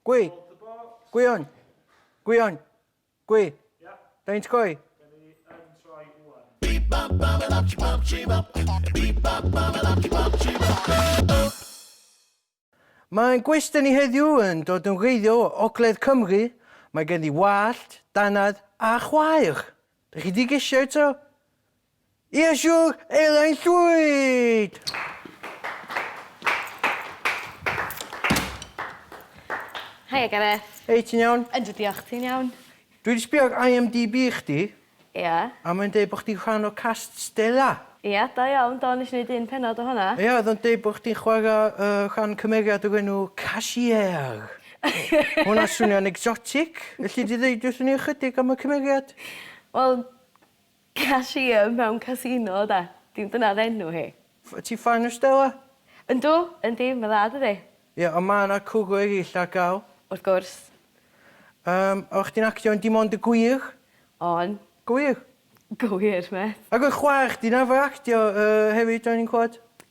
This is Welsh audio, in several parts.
Gwy. Gwion. Gwion. Gwy. Faint gwy? Beep bop bop a bop bop chee bop. Beep bop bop a bop bop chee bop. Mae ein gwestai ni heddiw yn dod yn wreiddiol o Ogledd Cymru. Mae gen i wallt, dannedd a chwaer. Dych chi di gesio eto? Iesu elai'n llwyd! Haia Gareth. Hei, ti'n iawn? Yndw diolch, ti'n iawn? Dwi 'di sbio ar IMDb chdi. Ia? A mae'n deud bo' chdi'n rhan o cast Stella. Ia, da iawn, do, nes i neud un pennod o honna. Ia, oedd o'n deud bo' chdi'n chwara' yy rhan cymeriad o'r enw Cashier. Ma' hwnna'n swnio'n exotic. Elli di ddeud wrthyn ni ychydig am y cymeriad? Wel, Cashier mewn casino oedd e. Dim dyna oedd enw hi. F- ti ffan o Stella? Yndw, yndi, mae'n dda dydi? Ie, ond ma' 'na cwrw erill ar gael. Wrth gwrs. Yym, oeddach chdi'n actio yn Dim Ond y Gwir? O'n. Gywir? Gywir, mêt. Ac oedd chwaer chdi'n arfer actio yy hefyd o'n i'n clywed?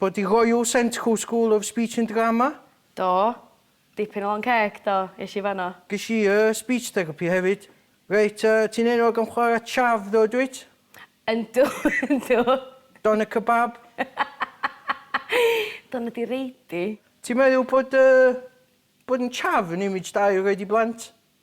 Bod i roiu sent Q School of Speech and Drama? Do. Dipyn o lon ceg, do, es i fanno. Ges i yy speech therapy hefyd. Reit, yy, ti'n enwog am chwarae chav ddo, dwyt? Yndw, yndw. Doner kebab? Doner di reidi. Ti'n meddwl bod yy bod yn chav yn image da i'w roid i blant?